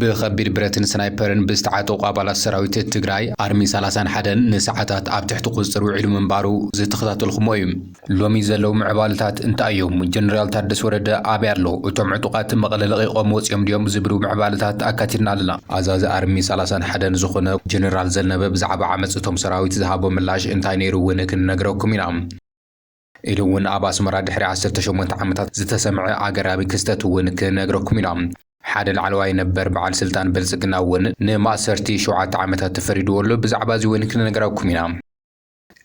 ብከቢድ ብረትን ስናይፐርን ብዝተዓጠቑ ኣባላት ሰራዊት ትግራይ ኣርሚ ሰላሳን ሓደን ንሰዓታት ኣብ ትሕቲ ቁፅፅር ውዒሉ ምንባሩ ዝተኸታተልኹሞ እዩ። ሎሚ ዘለዉ ምዕባለታት እንታይ እዮም? ጀነራል ታደሰ ወረደ ኣበይ ኣሎ? እቶም ዕጡቓት መቐለ ለቒቖም ወፂኦም ድዮም? ዝብሉ ምዕባለታት ኣካቲትና ኣለና። ኣዛዚ ኣርሚ ሰላሳን ሓደን ዝኾነ ጀነራል ዘነበ ብዛዕባ ዓመፅ እቶም ሰራዊት ዝሃቦ ምላሽ እንታይ ነይሩ እውን ክንነግረኩም ኢና። ኢሉ እውን ኣብ ኣስመራ ድሕሪ ዓሰርተ ሸሞንተ ዓመታት ዝተሰምዐ ኣገራሚ ክስተት እውን ክነግረኩም ኢና። ሓደ ላዕለዋይ ነበር በዓል ስልጣን ብልጽግና እውን ንማእሰርቲ ሸውዓተ ዓመታት ተፈሪድዎ ኣሎ። ብዛዕባ እዚ እውን ክንነግራኩም ኢና።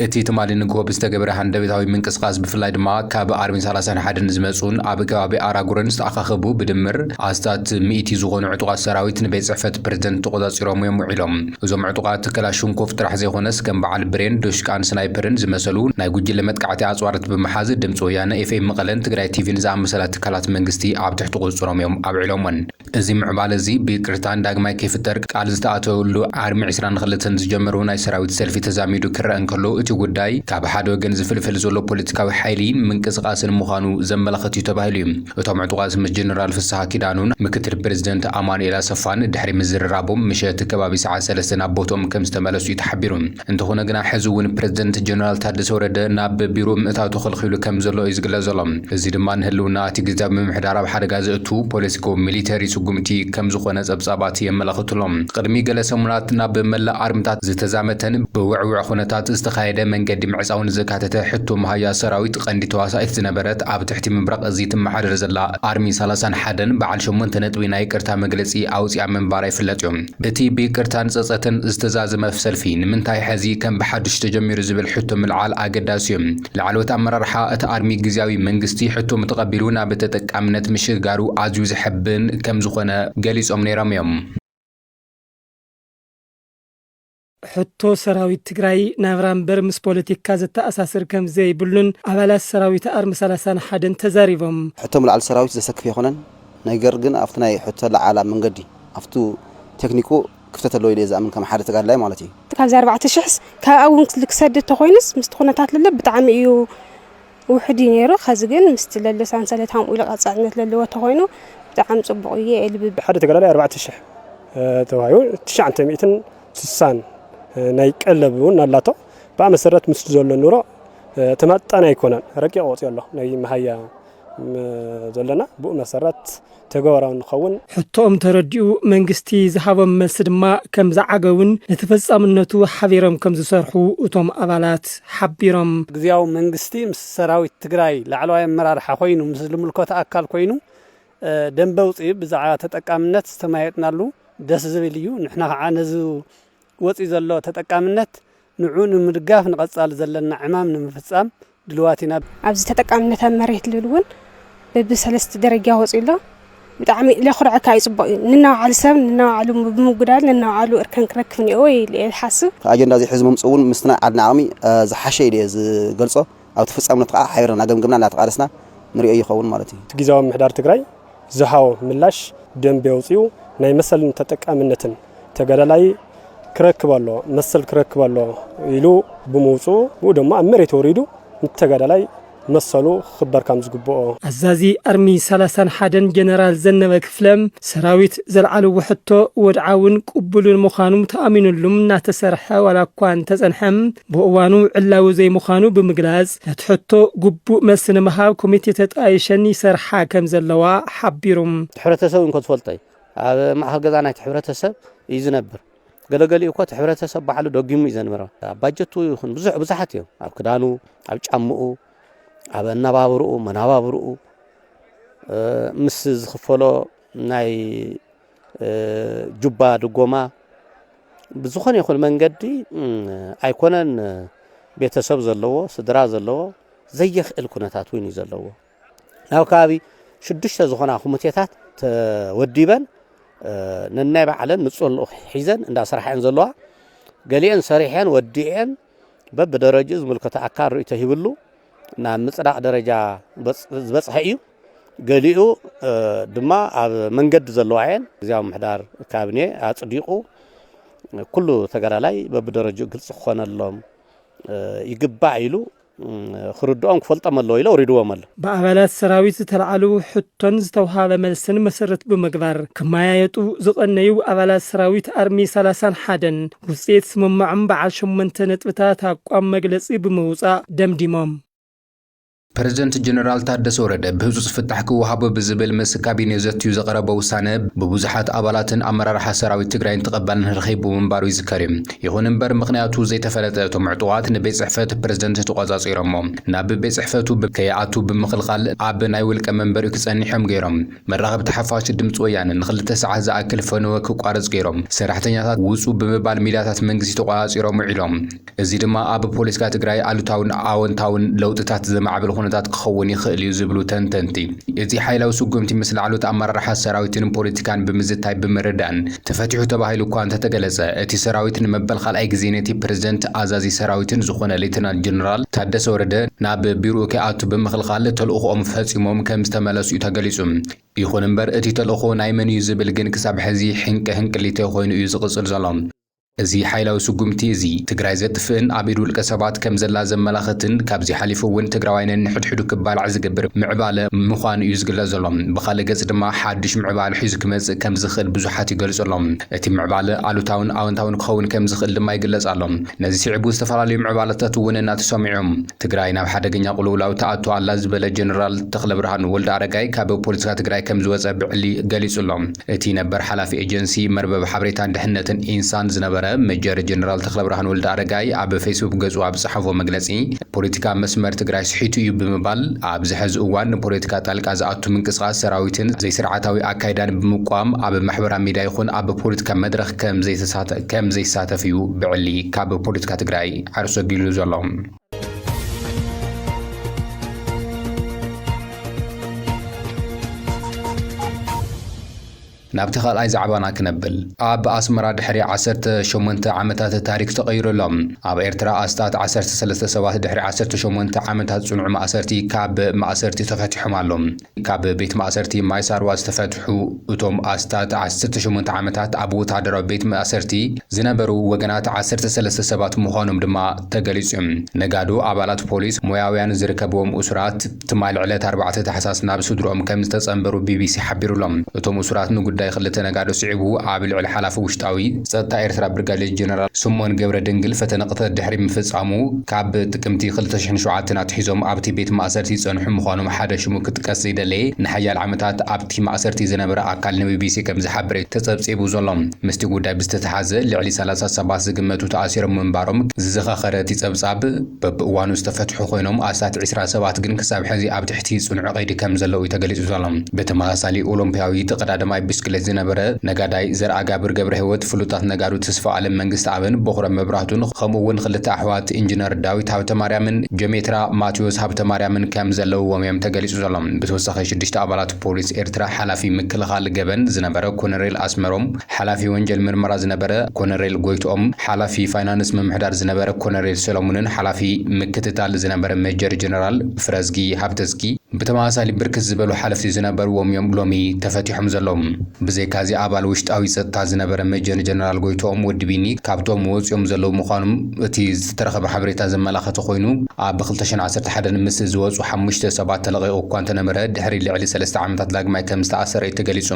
እቲ ትማሊ ንግሆ ብዝተገበረ ሃንደበታዊ ምንቅስቓስ ብፍላይ ድማ ካብ ኣርሚ ሰላሳን ሓደን ዝመጹን ኣብ ከባቢ ኣራጉረን ዝተኣኻኸቡ ብድምር ኣስታት ሚእቲ ዝኾኑ ዕጡቓት ሰራዊት ንቤት ጽሕፈት ፕረዚደንት ተቖጻጺሮም'ዮም ውዒሎም። እዞም ዕጡቓት ክላሽንኮቭ ጥራሕ ዘይኮነስ ከም በዓል ብሬን፣ ዶሽቃን ስናይፐርን ዝመሰሉ ናይ ጉጅለ መጥቃዕቲ ኣፅዋራት ብምሓዝ ድምፂ ወያነ፣ ኤፍኤም መቐለን ትግራይ ቲቪን ዝኣመሰላ ትካላት መንግስቲ ኣብ ትሕቲ ቁፅፅሮም እዮም ኣብዒሎሞን። እዚ ምዕባለ እዚ ብይቅርታን ዳግማይ ከይፍጠር ቃል ዝተኣተወሉ ኣርሚ ዕስራን ኽልተን ዝጀመርዎ ናይ ሰራዊት ሰልፊ ተዛሚዱ ክረኣ እንከሎ እቲ ጉዳይ ካብ ሓደ ወገን ዝፍልፍል ዘሎ ፖለቲካዊ ሓይሊ ምንቅስቓስን ምዃኑ ዘመላኽት እዩ ተባሂሉ እዩ። እቶም ዕጡቓት ምስ ጀነራል ፍስሃ ኪዳኑን ምክትል ፕረዚደንት ኣማኑኤል ኣሰፋን ድሕሪ ምዝርራቦም ምሸት ከባቢ ሰዓት ሰለስተ ናብ ቦትኦም ከምዝተመለሱ'ዩ ተሓቢሩ። እንተኾነ ግና ሕዚ'ውን ፕረዚደንት ጀነራል ታደሰ ወረደ ናብ ቢሮኡ ምእታው ተኸልኺሉ ከምዘሎ'ዩ ዝግለጽ ዘሎ። እዚ ድማ ንህልውና እቲ ግዝያዊ ምምሕዳር ኣብ ሓደጋ ዘእቱ ፖለቲኮ ሚሊተሪ ስጉምቲ ከምዝኾነ ጸብጻባት የመላኽቱ'ሎ። ቅድሚ ገለ ሰሙናት ናብ መላእ ኣርምታት ዝተዛመተን ብውዕዉዕ ኩነታት ዝተኻየደ መንገዲ ምዕጻውን ዘካተተ ሕቶ መሃያ ሰራዊት፣ ቐንዲ ተዋሳኢት ዝነበረት ኣብ ትሕቲ ምብራቕ እዚ ትመሓደር ዘላ ኣርሚ ሰላሳን ሓደን በዓል ሸሞንተ ነጥቢ ናይ ይቅርታ መግለጺ ኣውጺኣ ምንባራ ይፍለጥ'ዩ። እቲ ብይቅርታን ጸጸትን ዝተዛዘመ ሰልፊ ንምንታይ ሕዚ ከም ብሓዱሽ ተጀሚሩ ዝብል ሕቶ ምልዓል ኣገዳሲ'ዩ። ላዕለዎት ኣመራርሓ እቲ ኣርሚ ግዝያዊ መንግስቲ ሕቶሙ ተቐቢሉ ናብ ተጠቃምነት ምሽግጋሩ ኣዝዩ ዘሐብን ከምዝኾነ ገሊጾም ነይሮም'ዮም። ሕቶ ሰራዊት ትግራይ ናብራ እምበር ምስ ፖለቲካ ዘተኣሳስር ከምዘይብሉን ኣባላት ሰራዊት ኣርሚ ሰላሳን ሓደን ተዛሪቦም። ሕቶ ምልዓል ሰራዊት ዘሰክፍ ኣይኮነን፣ ነገር ግን ኣብቲ ናይ ሕቶ ኣለዓዕላ መንገዲ ኣብቱ ቴክኒኩ ክፍተት ኣለዎ ኢለ እየ ዝኣምን ከም ሓደ ተጋደላይ ማለት እዩ። ካብዚ ኣርባዕተ ሽሕስ ካብኣ እውን ክሰድድ ተኾይኑስ ምስቲ ኩነታት ለለ ብጣዕሚ እዩ። ውሑድ እዩ ነይሩ ከዚ ግን ምስቲ ለሎ ሳንሰለት ሃምኡ ኢሉ ቀጻልነት ለለዎ ተኾይኑ ብጣዕሚ ጽቡቕ እዩ ኤልቢ። ሓደ ተጋዳላይ ኣርባዕተ ሽሕ ተዋሂቡ ትሽዓተ ሚእትን ስሳን ናይ ቀለብ እውን ኣላቶ ብኣ መሰረት ምስ ዘሎ ኑሮ ተማጣኒ ኣይኮነን ረቂቕ ወፂኦ ኣሎ ናይ መሃያ ዘለና ብኡ መሰረት ተግባራዊ ንክኸውን። ሕቶኦም ተረዲኡ መንግስቲ ዝሃቦም መልሲ ድማ ከም ዝዓገቡን ንተፈፃምነቱ ሓቢሮም ከም ዝሰርሑ እቶም ኣባላት ሓቢሮም። ግዝያዊ መንግስቲ ምስ ሰራዊት ትግራይ ላዕለዋይ ኣመራርሓ ኮይኑ ምስ ልምልኮት ኣካል ኮይኑ ደንበ ኣውፂኡ ብዛዕባ ተጠቃምነት ዝተመያየጥናሉ ደስ ዝብል እዩ ንሕና ከዓ ነዚ ወፂኡ ዘሎ ተጠቃምነት ንዕኡ ንምድጋፍ ንቐፃሊ ዘለና ዕማም ንምፍፃም ድልዋት ኢና። ኣብዚ ተጠቃምነት ኣብ መሬት ልብል እውን በቢ ሰለስተ ደረጃ ወፂኡ ኣሎ። ብጣዕሚ ለኹርዕ እካ እዩ ፅቡቕ እዩ። ንናባዕሉ ሰብ ንናባዕሉ ብምጉዳል ንናባዕሉ እርከን ክረክብ እኒኦዎ ኢለ እየ ዝሓስብ። ኣጀንዳ ዘይሕዙ ምምፅኡ እውን ምስቲ ናይ ዓድና ዓቕሚ ዝሓሸ ኢለ እየ ዝገልፆ። ኣብቲ ፍፃምነቱ ከዓ ሓቢርና እናገምገምና እናተቓለስና ንሪኦ ይኸውን ማለት እዩ። ጊዚያዊ ምምሕዳር ትግራይ ዝሃቦ ምላሽ ደንቢ ኣውፂኡ ናይ መሰልን ተጠቃምነትን ተጋዳላይ ክረክብ ኣለዎ፣ መሰል ክረክብ ኣለዎ ኢሉ ብምውፅኡ ብኡ ደሞ ኣብ መሬት ወሪዱ ንቲ ተጋዳላይ መሰሉ ክኽበር ካም ዝግብኦ። ኣዛዚ ኣርሚ ሰላሳን ሓደን ጀነራል ዘነበ ስለም ሰራዊት ዘልዓልዎ ሕቶ ወድዓውን ቅቡልን ምዃኑ ተኣሚንሉ እናተሰርሐ ዋላ እኳ እንተፀንሐ ብእዋኑ ዕላዊ ዘይምዃኑ ብምግላፅ ነቲ ሕቶ ግቡእ መልሲ ንምሃብ ኮሚቴ ተጣይሸን ይሰርሓ ከምዘለዋ ሓቢሩ። እቲ ሕብረተሰብ እንኮ ዝፈልጦ እዩ። ኣብ ማእኸል ገዛ ናይቲ ሕብረተሰብ እዩ ዝነብር። ገለ ገሊኡ እኮ እቲ ሕብረተሰብ ባዕሉ ደጊሙ እዩ ዘንብሮ። ኣብ ባጀቱ ይኹን ብዙሕ ብዙሓት እዮም። ኣብ ክዳኑ፣ ኣብ ጫምኡ፣ ኣብ ኣነባብርኡ መነባብርኡ ምስ ዝኽፈሎ ናይ ጁባ ድጎማ ብዝኾነ ይኹን መንገዲ ኣይኮነን ቤተሰብ ዘለዎ ስድራ ዘለዎ ዘየኽእል ኩነታት እውን እዩ ዘለዎ ናብ ከባቢ ሽዱሽተ ዝኾና ኮሚቴታት ተወዲበን ነናይ ባዕለን ንፁር ልኡኽ ሒዘን እንዳስራሕን ዘለዋ ገሊአን ሰሪሐን ወዲኤን በብደረጅኡ ዝምልከቶ ኣካል ርእይቶ ሂብሉ ናብ ምፅዳቕ ደረጃ ዝበፅሐ እዩ። ገሊኡ ድማ ኣብ መንገዲ ዘለዋ እየን ግዜያዊ ምሕዳር ካቢኔ ኣፅዲቑ ኩሉ ተጋዳላይ በብደረጅኡ ግልፂ ክኾነሎም ይግባእ ኢሉ ክርድኦም ክፈልጦም ኣለዎ ኢለ ወሪድዎም ኣሎ ብኣባላት ሰራዊት ዝተልዓሉ ሕቶን ዝተውሃበ መልስን መሰረት ብምግባር ክመያየጡ ዝቐነዩ ኣባላት ሰራዊት ኣርሚ ሰላሳን ሓደን ውፅኢት ስምምዖም በዓል ሸሞንተ ነጥብታት ኣቋም መግለፂ ብምውፃእ ደምዲሞም። ፕረዚደንት ጀነራል ታደሰ ወረደ ብህፁፅ ፍታሕ ክወሃቦ ብዝብል ምስ ካቢኔኡ ዘትዩ ዘቕረቦ ውሳነ ብብዙሓት ኣባላትን ኣመራርሓ ሰራዊት ትግራይን ተቐባልነት ረኺቡ ምንባሩ ይዝከር ዩ። ይኹን እምበር ምኽንያቱ ዘይተፈለጠ እቶም ዕጡቓት ንቤት ፅሕፈት ፕረዚደንት ተቖፃፂሮሞ ናብ ቤት ፅሕፈቱ ከይኣቱ ብምኽልኻል ኣብ ናይ ውልቀ መንበሪኡ ክፀንሕ ዮም ገይሮም። መራኸብቲ ሓፋሽ ድምፂ ወያነ ንክልተ ሰዓት ዝኣክል ፈነወ ክቋረፅ ገይሮም። ሰራሕተኛታት ውፁ ብምባል ሚድያታት መንግስቲ ተቖፃፂሮም ውዒሎም። እዚ ድማ ኣብ ፖለቲካ ትግራይ ኣሉታውን ኣወንታውን ለውጥታት ዘማዕብል ኹነታት ክኸውን ይኽእል እዩ ዝብሉ ተንተንቲ፣ እዚ ሓይላዊ ስጉምቲ ምስ ላዕሎት ኣመራርሓ ሰራዊትን ፖለቲካን ብምዝታይ ብምርዳእን፣ ተፈቲሑ ተባሂሉ እኳ እንተተገለጸ፣ እቲ ሰራዊት ንመበል ካልኣይ ግዜ ነቲ ፕረዚደንት ኣዛዚ ሰራዊትን ዝኾነ ሌተናል ጀነራል ታደሰ ወረደ ናብ ቢርኡ ከይኣቱ ብምኽልኻል ተልእኾኦም ፈጺሞም ከምዝተመለሱ'ዩ ተገሊጹ። ይኹን እምበር እቲ ተልእኾ ናይ መን'ዩ ዝብል ግን ክሳብ ሕዚ ሕንቂ ሕንቅሊተይ ኮይኑ እዩ ዝቕጽል ዘሎ። እዚ ሓይላዊ ስጉምቲ እዚ፣ ትግራይ ዘጥፍእን ኣብ ኢድ ውልቀ ሰባት ከምዘላ ዘመላኽትን ካብዚ ሓሊፉ እውን ትግራዋይ ነንሕድሕዱ ክባላዕ ዝገብር ምዕባለ ምዃኑ'ዩ ዝግለጽ ዘሎ። ብኻልእ ገጽ ድማ ሓድሽ ምዕባለ ሒዙ ክመጽእ ከም ዝኽእል ብዙሓት ይገልጹ ኣሎም። እቲ ምዕባለ ኣሉታውን ኣወንታውን ክኸውን ከም ዝኽእል ድማ ይግለጽ ኣሎ። ነዚ ስዒቡ ዝተፈላለዩ ምዕባለታት እውን እናተሰምዑ እዮም። ትግራይ ናብ ሓደገኛ ቁልውላው ትኣቱ ኣላ ዝበለ ጀነራል ተኽለብርሃን ወልደኣረጋይ ካብ ፖለቲካ ትግራይ ከም ዝወጸ ብዕሊ ገሊጹ ኣሎ። እቲ ነበር ሓላፊ ኤጀንሲ መርበብ ሓበሬታን ድሕንነትን ኢንሳን ዝነበረ ሜጀር ጀነራል ተኽለብርሃን ወልደኣረጋይ ኣብ ፌስቡክ ገጹ ኣብ ዝጸሓፎ መግለጺ፣ ፖለቲካ መስመር ትግራይ ስሒቱ እዩ ብምባል ኣብዚ ሐዚ እዋን ንፖለቲካ ጣልቃ ዝኣቱ ምንቅስቓስ ሰራዊትን ዘይስርዓታዊ ኣካይዳን ብምቋም ኣብ ማሕበራ ሚድያ ይኹን ኣብ ፖለቲካ መድረኽ ከምዘይሳተፍ እዩ ብዕሊ ካብ ፖለቲካ ትግራይ ዓርሱ ኣጊሉ ዘሎ። ናብቲ ካልኣይ ዛዕባና ክነብል። ኣብ ኣስመራ ድሕሪ ዓሰርተ ሸሞንተ ዓመታት ታሪኽ ተቐይሩ ኣሎ። ኣብ ኤርትራ ኣስታት ዓሰርተ ሰለስተ ሰባት ድሕሪ ዓሰርተ ሸሞንተ ዓመታት ጽኑዕ ማእሰርቲ ካብ ማእሰርቲ ተፈቲሖም ኣሎው። ካብ ቤት ማእሰርቲ ማይ ሳርዋ ዝተፈትሑ እቶም ኣስታት ዓሰርተ ሸሞንተ ዓመታት ኣብ ወተሃደራዊ ቤት ማእሰርቲ ዝነበሩ ወገናት ዓሰርተ ሰለስተ ሰባት ምዃኖም ድማ ተገሊጹ። ነጋዶ፣ ኣባላት ፖሊስ፣ ሞያውያን ዝርከብዎም እሱራት፣ ትማል ዕለት ኣርባዕተ ታሕሳስ ናብ ስድርኦም ከም ዝተጸንበሩ ቢቢሲ ሓቢሩ'ሎ። እቶም እሱራት ንጉዳይ ክልተ ነጋዶ ስዒቡ ኣብ ልዕሊ ሓላፊ ውሽጣዊ ጸጥታ ኤርትራ ብርጋዴር ጀነራል ስምኦን ገብረድንግል ፈተነ ቅትለት ድሕሪ ምፍጻሙ ካብ ጥቅምቲ ክልተ ሽሕን ሸውዓተን ኣትሒዞም ኣብ'ቲ ቤት ማእሰርቲ ዝጸንሑ ምዃኖም ሓደ ሽሙ ክጥቀስ ዘይደለየ ንሓያለ ዓመታት ኣብ'ቲ ማእሰርቲ ዝነበረ ኣካል ንቢቢሲ ከም ዝሓበረ'ዩ ተጸብጺቡ ዘሎ። ምስ'ቲ ጉዳይ ብዝተተሓሓዘ ልዕሊ ሰላሳ ሰባት ዝግመቱ ተኣሲሮም ምንባሮም ዝዘኻኸረ እቲ ጸብጻብ፣ በብእዋኑ ዝተፈትሑ ኮይኖም ኣስታት ዕስራ ሰባት ግን ክሳብ ሕዚ ኣብ ትሕቲ ጽኑዕ ቀይዲ ከም ዘለዉ'ዩ ተገሊጹ ዘሎ። ብተመሳሳሊ ኦሎምፒያዊ ተቐዳደማይ ብስክሌት ዝነበረ ነጋዳይ ዘርኣጋብር ገብረሂወት፣ ፍሉጣት ነጋዶ ተስፋኣለም መንግስተኣብን ቦኽረ መብራህቱን ከምኡ'ውን ክልተ ኣሕዋት ኢንጅነር ዳዊት ሃብተማርያምን ጀሜትራ ማትዮስ ሃብተማርያምን ከም ዘለውዎም'ዮም ተገሊጹ ዘሎ። ብተወሳኺ ሽዱሽተ ኣባላት ፖሊስ ኤርትራ ሓላፊ ምክልኻል ገበን ዝነበረ ኮነሬል ኣስመሮም ሓላፊ ወንጀል ምርመራ ዝነበረ ኮነሬል ጎይትኦም፣ ሓላፊ ፋይናንስ ምምሕዳር ዝነበረ ኮነሬል ሰለሙንን ሓላፊ ምክትታል ዝነበረ ሜጀር ጀነራል ፍረዝጊ ሃብተዝጊ ብተመሳሳሊ ብርክት ዝበሉ ሓለፍቲ ዝነበርዎም'ዮም ሎሚ ተፈቲሖም ዘለዉ። ብዘይካ'ዚ ኣባል ውሽጣዊ ጸጥታ ዝነበረ ሜጀር ጀነራል ጎይትኦም ወዲ ቢኒ ካብቶም ወጺኦም ዘለዉ ምዃኖም እቲ ዝተረኸበ ሓበሬታ ዘመላኸተ ኮይኑ ኣብ ክልተ ሽሕን ዓሰርተ ሓደን ምስ ዝወጹ ሓሙሽተ ሰባት ተለቒቑ እኳ እንተነበረ ድሕሪ ልዕሊ ሰለስተ ዓመታት ዳግማይ ከምዝተኣሰረ'ዩ ተገሊጹ።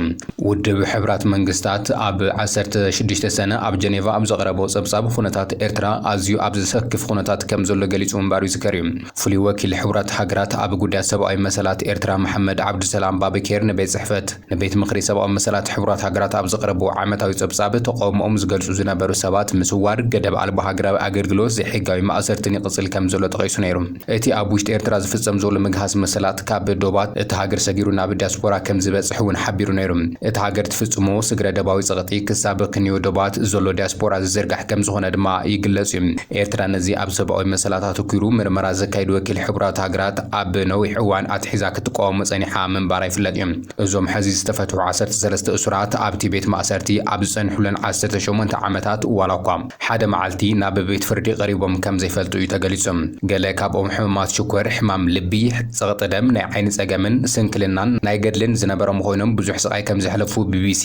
ውድብ ሕቡራት መንግስታት ኣብ ዓሰርተ ሽዱሽተ ሰነ ኣብ ጀኔቫ ኣብ ዘቕረቦ ጸብጻብ ኹነታት ኤርትራ ኣዝዩ ኣብ ዘሰክፍ ኹነታት ከም ዘሎ ገሊጹ ምንባሩ ይዝከር'ዩ። ፍሉይ ወኪል ሕቡራት ሃገራት ኣብ ጉዳያት ሰብኣዊ መሰላት ኤርትራ መሓመድ ዓብዱሰላም ባበኬር ንቤት ጽሕፈት ንቤት ምኽሪ ሰብኣዊ መሰላት ሕቡራት ሃገራት ኣብ ዘቕረብዎ ዓመታዊ ጸብጻብ ተቓውሞኦም ዝገልጹ ዝነበሩ ሰባት ምስዋር፣ ገደብ ኣልቦ ሃገራዊ ኣገልግሎት፣ ዘይሕጋዊ ማእሰርትን ይቕጽል ከም ዘሎ ጠቒሱ ነይሩ። እቲ ኣብ ውሽጢ ኤርትራ ዝፍጸም ዘሎ ምግሃስ መሰላት ካብ ዶባት እታ ሃገር ሰጊሩ ናብ ዲያስፖራ ከም ዝበጽሕ እውን ሓቢሩ ነይሩ። እታ ሃገር ትፍጽሞ ስግረ-ደባዊ ጸቕጢ ክሳብ ክንዮ ዶባት ዘሎ ዲያስፖራ ዝዝርጋሕ ከም ዝኾነ ድማ ይግለጽ እዩ። ኤርትራ ነዚ ኣብ ሰብኣዊ መሰላት ኣተኲሩ ምርመራ ዘካይድ ወኪል ሕቡራት ሃገራት ኣብ ነዊሕ እዋን ኣትሒዛ ክትቃወሞ ጸኒሓ ምንባራ ይፍለጥ እዩ። እዞም ሕዚ ዝተፈትሑ ዓሰርተ ሰለስተ እሱራት ኣብቲ ቤት ማእሰርቲ ኣብ ዝጸንሑለን ዓሰርተ ሸሞንተ ዓመታት ዋላኳ፣ ሓደ መዓልቲ ናብ ቤት ፍርዲ ቀሪቦም ከም ዘይፈልጡ እዩ ተገሊጹ። ገለ ካብኦም ሕሙማት ሽኮር፣ ሕማም ልቢ፣ ጸቕጢ ደም፣ ናይ ዓይኒ ጸገምን ስንክልናን ናይ ገድልን ዝነበሮም ኾይኖም ብዙሕ ስቓይ ከም ዘሕለፉ ቢቢሲ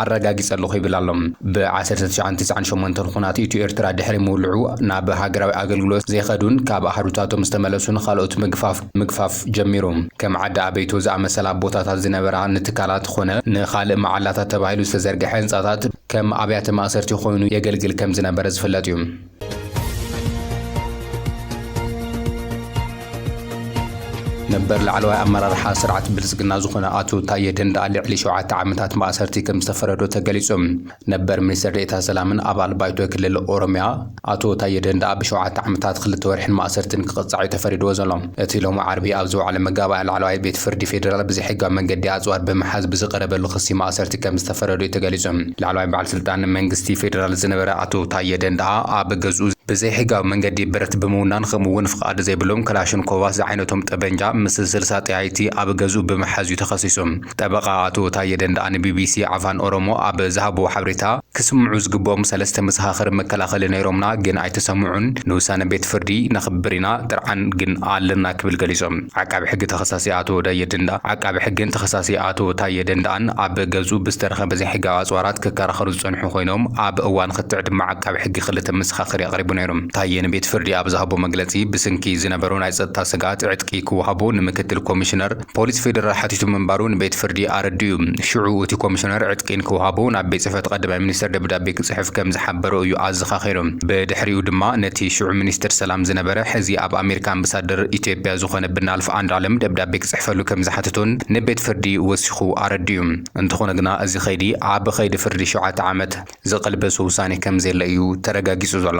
ኣረጋጊጸ ኣለኹ ይብል ኣሎ። ብ ዓሰርተ ትሽዓን ትስዓን ሸሞንተን ኹናት ኢትዮ ኤርትራ ድሕሪ ምውልዑ ናብ ሃገራዊ ኣገልግሎት ዘይኸዱን ካብ ኣሃዱታቶም ዝተመለሱን ኻልኦት ምግፋፍ ምግፋፍ ጀሚሩ። ከም ዓዲ ኣበይቶ ዝኣመሰላ ቦታታት ዝነበራ ንትካላት ኾነ ንኻልእ መዓላታት ተባሂሉ ዝተዘርገሐ ህንጻታት ከም ኣብያተ ማእሰርቲ ኮይኑ የገልግል ከም ዝነበረ ዝፍለጥ እዩ። ነበር ላዕለዋይ ኣመራርሓ ስርዓት ብልጽግና ዝኾነ ኣቶ ታየ ደንደኣ ልዕሊ ሸውዓተ ዓመታት ማእሰርቲ ከም ዝተፈረዶ ተገሊጹ። ነበር ሚኒስትር ዴኤታ ሰላምን ኣባል ባይቶ ክልል ኦሮሚያ ኣቶ ታዬ ደንደኣ ብሸውዓተ ዓመታት ክልተ ወርሒን ማእሰርቲን ክቕጻዕ'ዩ ተፈሪድዎ ዘሎ። እቲ ሎሚ ዓርቢ ኣብ ዝወዓለ መጋባእያ ላዕለዋይ ቤት ፍርዲ ፌደራል ብዘይሕጋዊ መንገዲ ኣጽዋር ብምሓዝ ብዝቐረበሉ ክሲ ማእሰርቲ ከምዝተፈረዶ'ዩ ተገሊጹ። ላዕለዋይ በዓል ስልጣን መንግስቲ ፌደራል ዝነበረ ኣቶ ታዬ ደንደኣ ኣብ ገዝኡ ብዘይሕጋዊ መንገዲ ብረት ብምውናን ከምኡ'ውን ፍቓድ ዘይብሎም ክላሽንኮቫት ዝዓይነቶም ጠበንጃ ምስ ስልሳ ጠያይቲ ኣብ ገዝኡ ብምሓዝ'ዩ ተኸሲሱ። ጠበቓ ኣቶ ታየ ደንደኣ ንቢቢሲ ዓፋን ኦሮሞ ኣብ ዝሃብዎ ሓብሬታ፣ ክስምዑ ዝግብኦም ሰለስተ መሰኻኽር መከላኸሊ ነይሮምና ግን ኣይተሰምዑን፣ ንውሳነ ቤት ፍርዲ ነኽብር ኢና ጥርዓን ግን ኣለና ክብል ገሊጹ። ዓቃቢ ሕጊ ተኸሳሲ ኣቶ ዳየ ደንደኣ፣ ዓቃቢ ሕጊን ተኸሳሲ ኣቶ ታየ ደንደኣን ኣብ ገዝኡ ብዝተረኸበ ዘይሕጋዊ ኣጽዋራት ክከራኸሩ ዝጸንሑ ኮይኖም፣ ኣብ እዋን ክትዕ ድማ ዓቃቢ ሕጊ ክልተ መሰኻኽር እዩ ኣቕሪቡ ነይሩ። ታየ ንቤት ፍርዲ ኣብ ዝሃቦ መግለጺ፣ ብስንኪ ዝነበሮ ናይ ጸጥታ ስግኣት ዕጥቂ ክወሃቦ ንምክትል ኮሚሽነር፣ ፖሊስ ፌደራል ሓቲቱ ምንባሩ ንቤት ፍርዲ ኣረዲኡ። ሽዑ እቲ ኮሚሽነር ዕጥቂ ንክውሃቦ ናብ ቤት ጽሕፈት ቐዳማይ ሚኒስተር ደብዳቤ ክጽሕፍ ከም ዝሓበሮ እዩ ኣዘኻኺሩ። ብድሕሪኡ ድማ ነቲ ሽዑ ሚኒስተር ሰላም ዝነበረ ሕዚ ኣብ ኣሜሪካ ኣምበሳደር ኢትዮጵያ ዝኾነ ብናልፍ ኣንዱዓለም ደብዳቤ ክጽሕፈሉ ከም ዝሓተቶን ንቤት ፍርዲ ወሲኹ ኣረዲኡ። እንተኾነ ግና እዚ ከይዲ ኣብ ኸይዲ ፍርዲ ሸውዓተ ዓመት ዝቐልበሶ ውሳኔ ከም ዘየለ እዩ ተረጋጊጹ ዘሎ።